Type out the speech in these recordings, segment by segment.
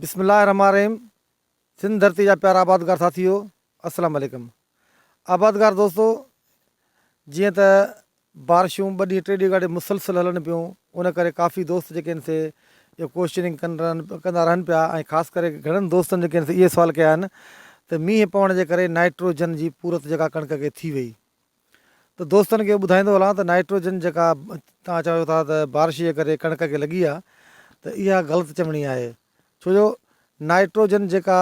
بسم الله الرحمٰن الرحيم سنڌ ڌرتي جا پيارا آبادگار ساٿيو السلام عليڪم آبادگار دوستو جيئن ته بارشون ٻه ڏينهن ٽي ڏينهن کان مسلسل هلن پيون ان ڪري ڪافي دوست جيڪي آهن سي اهو ڪوشچننگ ڪن رهن ڪندا رهن پيا ۽ خاص ڪري گهڻن دوستن جيڪي آهن سي اهي سوال ڪيا آهن ته مينهن پوڻ جي ڪري نائٽروجن جي پورت جيڪا ڪڻڪ کي ٿي وئي ته دوستن کي ٻڌائيندو هلان ته نائٽروجن جيڪا توهان چويو ٿا ته بارش جي ڪري ڪڻڪ کي لڳي آهي ته اها غلط چوڻي آهي ڇو جو نائٽروجن جيڪا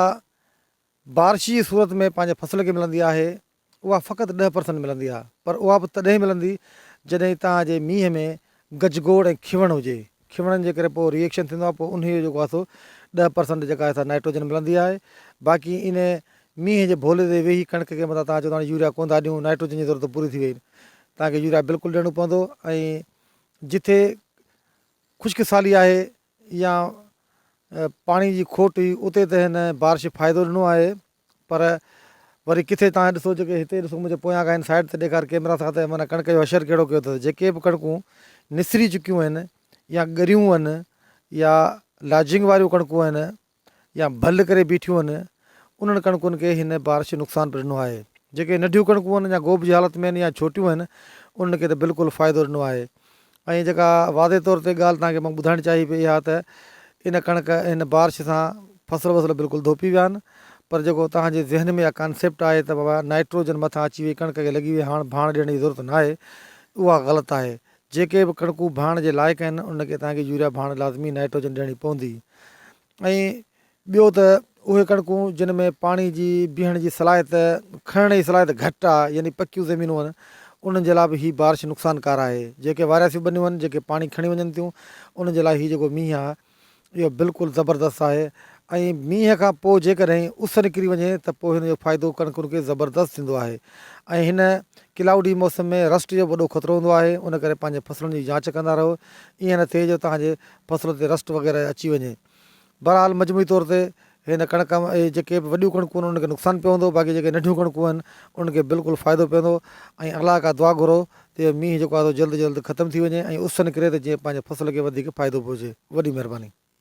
بارش جي صورت ۾ پنهنجي فصل کي ملندي آهي اها فقط ڏهه پرسنٽ ملندي آهي پر اها به تڏهن ملندي جڏهن توهان جي مينهن ۾ گجگوڙ ۽ کيوڻ هجي کيوڻن جي ڪري پوء ريئڪشن ٿيندو آهي پوء انهيء جو ڪاسو ڏهه پرسنٽ جيڪا آهي سا نائٽروجن ملندي آهي باقي ان مينهن جي ڀولي تي ويهي ڪڻڪ کي متان تان چئو ته هاڻي يوريا ڪون ٿا ڏيون نائٽروجن جي ضرورت پوري ٿي وئي تان کي يوريا بلڪل ڏيڻو پوندو ۽ جتي خشڪ سالي آهي يا پاڻي جي کوٽ هئي اتي ته هن بارش فائدو ڏنو آهي پر وري ڪٿي تان ڏسو جيڪي هتي ڏسو منهنجي پويان کان هن سائيڊ تي ڏيکار ڪيمرا سان ته من ڪڻڪ جو حشر ڪهڙو ڪيو اٿس جيڪي به ڪڻڪون نسري چڪيون آهن يا ڳريون آهن يا لاجنگ واريون ڪڻڪون آهن يا ڀل ڪري بيٺيون آهن انهن ڪڻڪن کي هن بارش نقصان به ڏنو آهي جيڪي ننڍيون ڪڻڪون آهن اڃا گوڀ جي حالت ۾ آهن يا ڇوٽيون آهن انهن کي ته بلڪل فائدو ڏنو آهي ۽ جيڪا واضح طور تي ڳالهه توهان کي مان ٻڌائڻ چاهي پئي اها ته ان ڪڻڪ هن بارش سان فصل وصل بلڪل ڌوپي ويا آهن پر جيڪو توهان جي ذهن ۾ اها ڪانسيپٽ آهي ته بابا نائٽروجن مٿان اچي وئي ڪڻڪ کي لڳي وئي هاڻ ڀاڻ ڏيڻ جي ضرورت ناهي اها غلط آهي جيڪي به ڪڻڪون ڀاڻ جي لائق آهن ان کي توهان کي يوريا ڀاڻ لازمي نائٽروجن ڏيڻي پوندي ۽ ٻيو ته اهي ڪڻڪون جن ۾ پاڻي جي بيهڻ جي صلاحيت کڻڻ جي صلاحيت گهٽ آهي يعني پڪيون زمينون آهن انهن جي لاء به هي بارش نقصان ڪار آهي جيڪي وارياسيون ٻنيون آهن جيڪي پاڻي کڻي وڃن ٿيون انهن جي لاء هي جيڪو مينهن آهي اهو بلڪل زبردست آهي ۽ مينهن کان پوء جيڪڏهن اس نڪري وڃي ته پوء هن جو فائدو ڪڻڪن کي زبردست ٿيندو آهي ۽ هن ڪلائوڊي موسم ۾ رسٽ جو وڏو خطرو هوندو آهي ان ڪري پنهنجي فصلن جي جانچ ڪندا رهو ايئن نه ٿئي جو توهان جي فصل تي رسٽ وغيره اچي وڃي بھرحال مجموعي طور تي ھن ڪڻڪ اھي جيڪي بھ وڏيون ڪڻڪون انھن کي نقصان پوندو باقي جيڪي ننڍيون ڪڻڪون اھن انھن کي بلڪل فائدو پوندو ۽ الله کان دعا گھرو تي مينھن جيڪو آھي سو جلد جلد ختم ٿي وڃي ۽ اس نڪري تھ جيئن پنھنجي فصل کي وڌيڪ فائدو پھچي وڏي مھرباني.